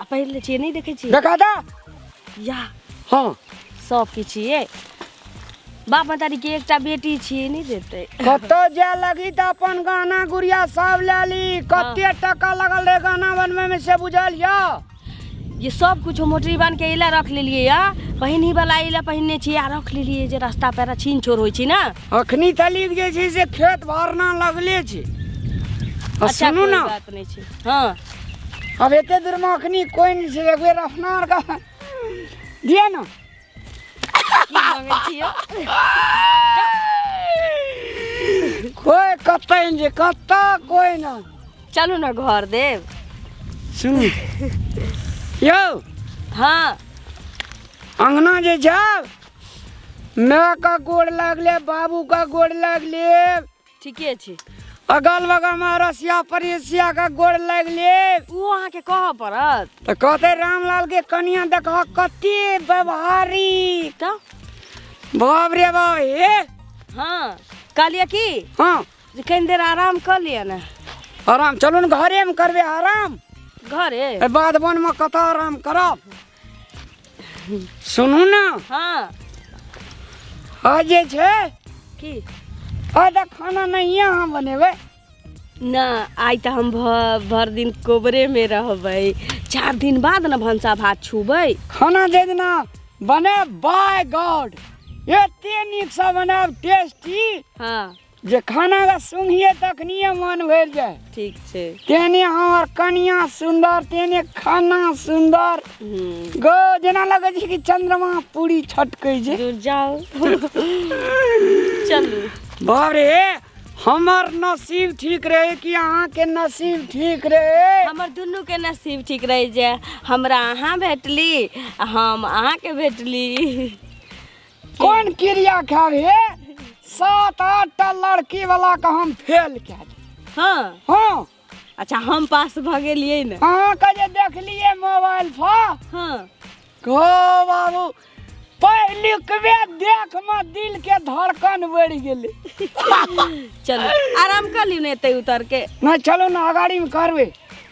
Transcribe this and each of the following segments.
आ पहिर ले छियै नहि देखै छियै देखा दा या हाँ सबके छियै बाप मतारी के एकटा बेटी छियै नहि देतै कतौ जे लगी तऽ अपन गहना गुड़िया सब ले ली कते टका लगल रहे गहना बनवे में से बुझल या ये सब कुछ मोटरी बांध के इला रख लेलियै या पहिनी वाला इला पहिनने छियै आ रख लेलियै जे रास्ता पर छीन छोर होइ छै ने अखनी तलिक जे छै से खेत भरना लगले छै आ अच्छा सुनू कोई ने बात नहि छै हँ अब एते दूर में अखनी कोई नहीं छै एगो रखना और का दिया ना की मांगे छियो कोई कत्ता नहीं जे कत्ता कोई ना चलू ना घर देव सुन यो हाँ अंगना जे जाओ माँ का गोड़ लागले बाबू का गोड़ लागले ठीके छै अगल बगल में रसिया परिसिया के गोड़ लग ले ओ अहाँ के कह पड़त तो कहते रामलाल के कनिया देखो कते व्यवहारी तो बाप रे बाप हे हाँ कहलिए की हाँ जे कनी देर आराम कर लिए ना आराम चलू ने घरे में करबे आराम घरे ए, बाद बन में कतऽ आराम करब सुनू ने हाँ आ जे छै की आ तऽ खाना नहिए अहाँ बनेबै ना आइ तऽ हम भ- भर दिन कोबरे में रहबै चार दिन बाद ने भनसा भात छूबै खाना जे दिना बनायब बाय गॉड एते नीकसँ बनायब टेस्टी हाँ जे खाना का सुनिए तखनिए मन भरि जाए ठीक छै तेने हमर कनिया सुंदर तेने खाना सुंदर हूँ गो जेना लगै छै कि चंद्रमा पूरी छटकै छै दूर जाओ चलू बाप रे हमर नसीब ठीक रहे कि अहाँके नसीब ठीक रहे हमर दुनू के नसीब ठीक रही जे हमरा अहाँ भेटली आ हम अहाँके भेटली कोन क्रिया खाब हे सात आठ टा लड़की वाला के हम फेल कए देब। हाँ हाँ अच्छा हम पास भऽ गेलियै ने अहाँके जे देखलियै मोबाइल पर हाँ को बाबू पहिलुकबे देख मे दिल के धड़कन बढ़ि गेलै चलू आराम कर लियौ ने एतै उतर के नहि चलू ने अगाड़ीमे करबै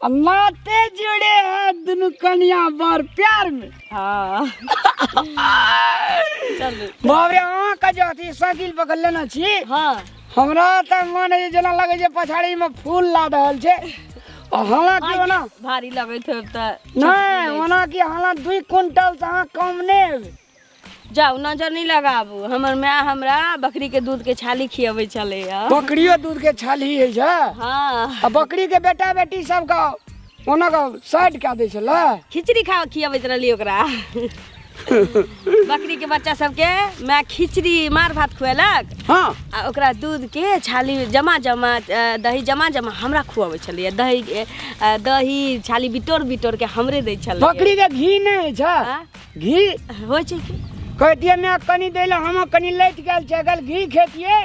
नाते जुड़े हैं दुनू कनिया बर प्यार में हाँ चलू बाबरे अहाँ का जो अथी साइकिल पकड़ लेना छी हाँ हमरा तऽ मन है जेना लगे जे पछाड़ी में फूल ला रहल छै और हालांकि ओना भारी लगैत होब तऽ नहि ओना कि हालांकि दुई क्विंटल से अहाँ कम नहि हेबै जाउ नजर नहि लगाबू हमर माय हमरा बकरी के दूध के छाली खियबै छलैया बकरियो दूध के छाली है छै हाँ आ बकरी के बेटा बेटी सब का ओना का साइड कऽ दै छलै खिचड़ी खा खियबैत रहली ओकरा बकरी के बच्चा सबके माय खिचड़ी मार भात खुएलक हाँ आ ओकरा दूध के छाली जमा जमा अ, दही जमा जमा हमरा खुआबै छलैया दही के, अ, दही छाली बिटोर बिटोर के हमरे दै छलै बकरी के घी नहि है छै आ? घी होइ छै कि कहतियै माय कनि दै लए हम कनि लैत गेल छै अगर घी खेतियै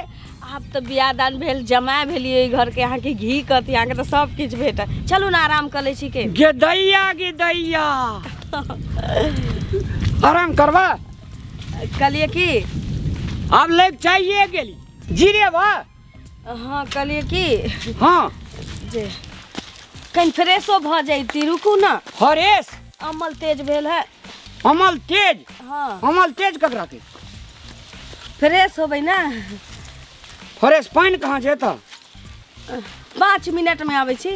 आब तऽ बियाह दान भेल जमाय भेलियै घरके अहाँके घी कहती अहाँके तऽ सब किछु भेटत चलू ने आराम कऽ लै छी के गे दैया गे दैया आराम करबा कहलियै कि आब लैत चाहिए गेली जीरे बा अहाँ कहलियै कि हाँ जे कनि फ्रेशो भऽ जैती रुकू ने हरेश अमल तेज भेल है अमल तेज हाँ अमल तेज ककरा के फ्रेश होबै ने हरेश पानि कहाँ छै तऽ पाँच मिनटमे आबै छी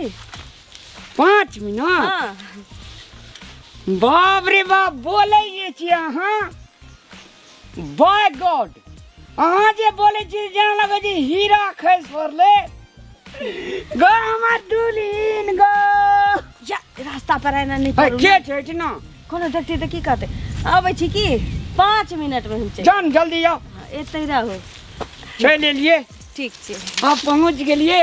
पाँच मिनट हाँ बाप रे बाप बोलै जे छी अहाँ बाय गॉड अहाँ जे बोले छी जेना लगे छी हीरा खैस पड़ले गो हमर दुल्हिन गो जा रास्ता पर एना नहि है, करू के छै इतना कोनो देखती तऽ की कहतै अबै छी की पाँच मिनटमे हम चलि जान जल्दी आओ एतै रहू चलि एलिए ठीक छै आप पहुँच गेलिए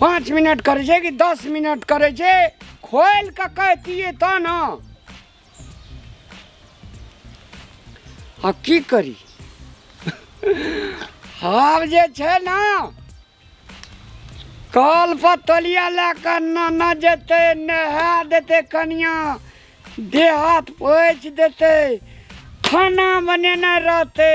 पाँच मिनट करै छै कि दस मिनट करै छै खोलि कऽ कहतियै तऽ ने आ की करी आब जे छै ने कल पर तलिया लए कऽ नाना जेतै नहा देतै कनिया देह हाथ पोछि देतै खाना बनेने रहतै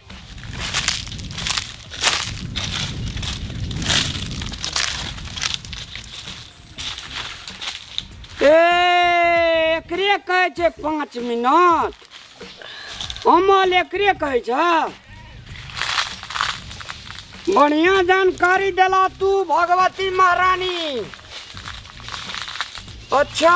ए एकरे कहै छै पाँच मिनट अमल एकरे कहै छ बढ़िया जानकारी देला तू भगवती महारानी अच्छा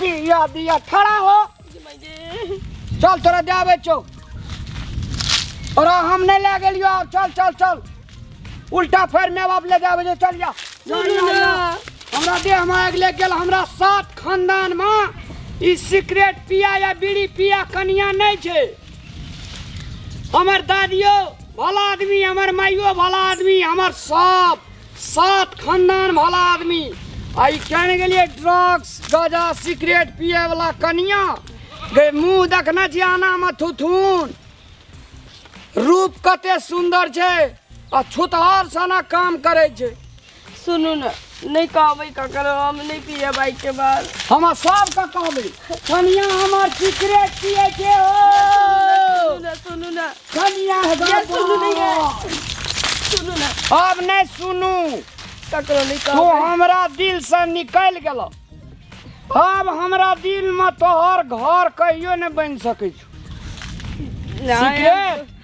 बिया बिया खड़ा हो चल तोरा जाबे छौ और हम नहीं ले गेलियो आब चल चल चल उल्टा फेर मैं बाप ले जाबे छौ, चल जा जा, जा, जा। हमरा देह में आग लग गेल हमरा सात खानदान में ई सिगरेट पिया या बीड़ी पिया कनिया नहीं छे हमर दादियो भला आदमी हमर माइयो भला आदमी हमर सब सात खानदान वाला आदमी आ ई केने गेलिए ड्रग्स गाजा सिगरेट पिए वाला कनिया गे मुंह देखने छी आना में थुथुन रूप कते सुंदर छै आ छुतहर सना काम करे छै सुनू ने नहि कहबै ककरो हम नहि पियब आइके बाद हम सबके कहबै कनिया हमर फिक्रे किए के हो सुनू ना कनिया ये सुनू नहीं है। सुनू ना अब नहीं सुनू ककरो नहीं तो कहबै हमरा दिल से निकल गेल अब हमरा दिल में तोहर घर कहियो नहीं बन सकै छौ नहीं, हम- सिगरेट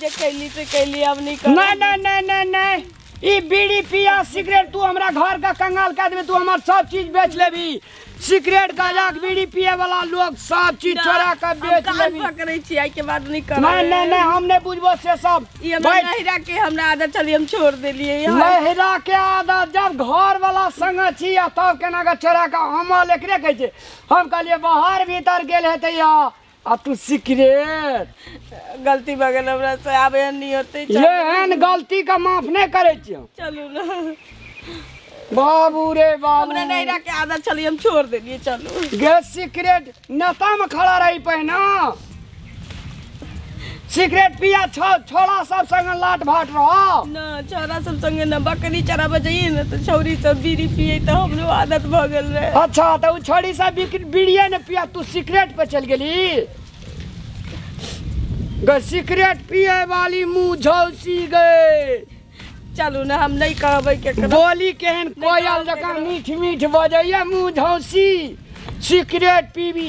जे कैली से कैली अब नहीं कर नहीं नहीं नहीं नहीं नहीं ई बीड़ी पिया सिगरेट तू हमरा घर का कंगाल कर देबे तू हमर सब चीज बेच लेबी सिगरेट गाजा के बीड़ी पिए वाला लोग सब चीज चोरा के बेच कान लेबी पकड़े छी आई के बाद नहीं कर नहीं नहीं नहीं हम नहीं बुझबो से सब ई हमरा बैठ। नहिरा के हमरा आदत चली हम छोड़ देलिए यहाँ नहिरा के आदत जब घर वाला संग छी आ तब केना के चोरा के हम लेकरे कहै छै हम कहलिए बाहर भीतर गेल हेतै या अब तू सिगरेट गलती भऽ गेल हमरा से आब एहन नहि होतै चल- एहन गलती के माफ नहि करे छियो चलू ने बाबू रे बाबू हमरा नहि राखे आदत छलै हम छोड़ देलियै चलू गैस सिगरेट नेता में खड़ा रही पहिना सिगरेट पिया छो छोरा सब संग लाट भाट रहो ना छोरा सब संगे ना बकरी चराबे जाइए ना तो छौरी सब बीड़ी पिए तो हमरो आदत भ गेल रहे अच्छा तो उ छोरी सब बिक- बीड़िए ने पिया तू सिगरेट पे चल गेली गे सिगरेट पिए वाली मुंह झौसी गए चलू ना हम नहीं कहबे के करो बोली केहन कोयल जकाँ मीठ मीठ बजैया मुँह झौसी सिगरेट पीबी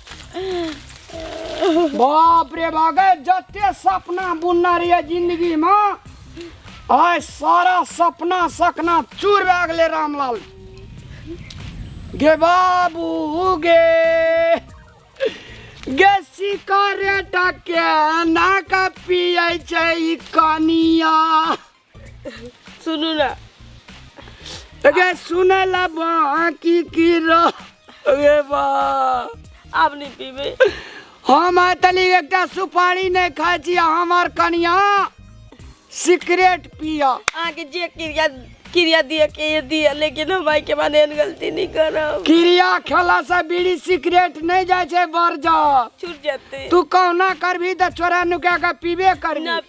बाप रे बाप गए जते सपना बुनना रहिए जिंदगी में आय सारा सपना सकना चूर भए गेलै रामलाल गे बाबू गे गे सिकरेट के ना का पियै छै ई कनिया सुनू ना अगे सुने ला बाकी की रो अगे बा आप नहीं पीबे हम आतली एकटा सुपारी नहीं खाई छी हमार कनिया सिगरेट पिया अहाँ के जे क्रिया क्रिया दिए के ये दिए लेकिन हम आई के बाद एहन गलती नहीं करब क्रिया खेला से बीड़ी सिगरेट नहीं जाए छे बर जा छूट जाते तू कहना करबी तो चोरा नुका के पीबे करबी ना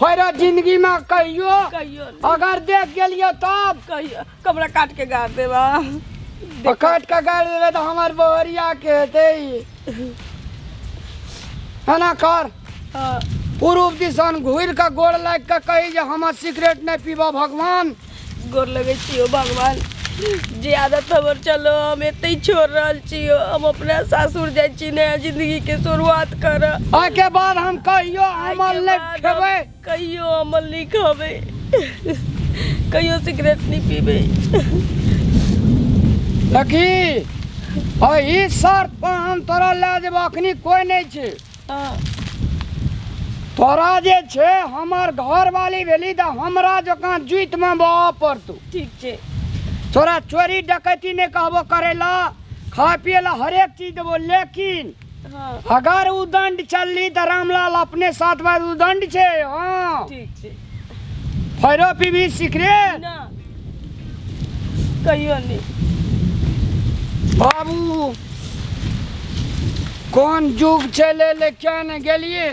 फेर जिंदगी में कहियो कहियो नहीं, अगर देख गेलियो तब कहियो कमरा काट के गाड़ देबा तो काट के गाड़ देबे तो हमार बहरिया के हेते है ना कर हाँ। पूर्व दिशान घूर के गोड़ लाग के कही जे हमर सिगरेट नहीं पीबा भगवान गोर लगै छी ओ भगवान जे आदत हमर चलो हम एतै छोड़ रहल छी हम अपना सासुर जाइ छी नया जिंदगी के शुरुआत कर ओके बाद हम कहियो अमल ले खेबै कहियो अमल नहीं खाबे कहियो सिगरेट नहीं पीबे देखी ओही शर्त पर हम तोरा ले जेबो अखनी कोई नहीं छै तोरा जे छै हमर घरवाली भेली तऽ हमरा जकाँ जुतिमे बहऽ पड़तौ ठीक छै तोरा चोरी डकैती नहि कहबो करै ला खाय पिए ला हरेक चीज देबो लेकिन हाँ अगर उदंड चलली तऽ रामलाल अपने साथ में उदंड छै हाँ ठीक छै फैरो पीबी सीख रे ना कहियो नहीं बाबू कोन जुग चले ले क्या ने गेलिए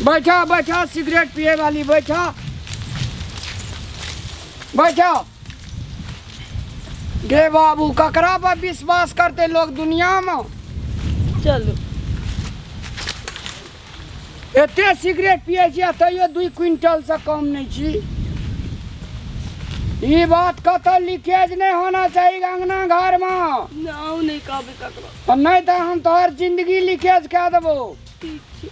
बैठा बैठा सिगरेट पिए वाली बैठा बैठा गे बाबू ककरा पर विश्वास करते लोग दुनिया में चलो एते सिगरेट पिए छी आ तैयो दुई क्विंटलसँ कम नहि छी ई बात कतऽ लीकेज नहि होना चाही अंगना घरमे हम नहि कहबै ककरो नहि तऽ हम तोहर जिंदगी लीकेज कए देबो ठीक छै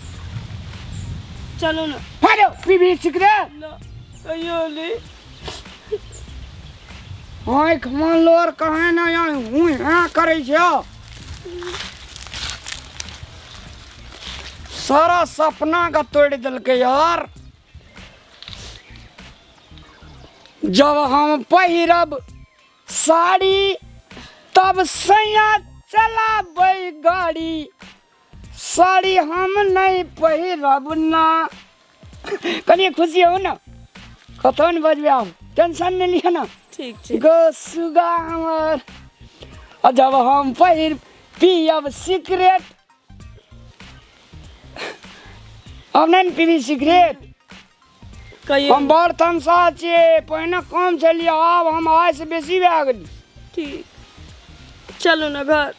चलू ने हेलो पीबी सिगरेट न, कहियो नहि आँख मन लोर कहे ना हूँ हाँ करे छो सारा सपना का तोड़ दिल के यार जब हम पहिरब साड़ी तब सैया चलाबै गाड़ी साड़ी हम नहीं पहिरब ना कनिए खुशी हो ना कतौ ने बजबे आब टेंशन नहीं लिया ना ठीक ठीक गो सुगा हमर आ जब हम पहिर पियब सिगरेट अब नहि ने पीबी सिगरेट कहियो हम बड़ तमसा छियै पहिने कम छलियै आब हम आइसँ बेसी भए गेली ठीक चलू ने घर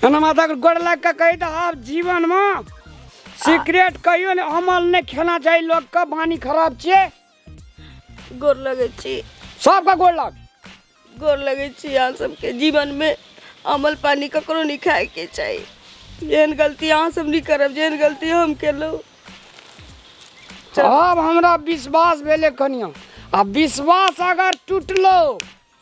एना माता के गोड़ लग के कही तऽ आब जीवन मे सिगरेट कहियो ने अमल नहि खेना चाही लोग के बानी खराब छियै गोर लगै छी सबके गोड़ लग गोर लगै छी अहाँ सबके जीवनमे अमल पानी ककरो नहि खायके चाही जेहन गलती अहाँ सब नहि करब जेहन गलती हम केलहुँ अब हमरा विश्वास भेलै कनिया आ विश्वास अगर टूटलो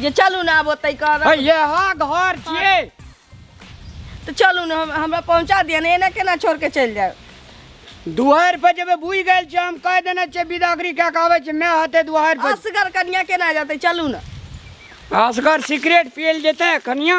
जे चलू ने आब ओतै कर अरे यह घर छिए तऽ चलू ने हम हमरा पहुँचा दिअ ने एना केना छोड़ के चलि जायब दुआर पर जेबे बुझ गेल छै हम कह देने छिए बिदागरी कए के आबै छै मैं हते दुआर पर असगर कनिया केना जेतै चलू ने असगर सिगरेट पियल जेतै कनिया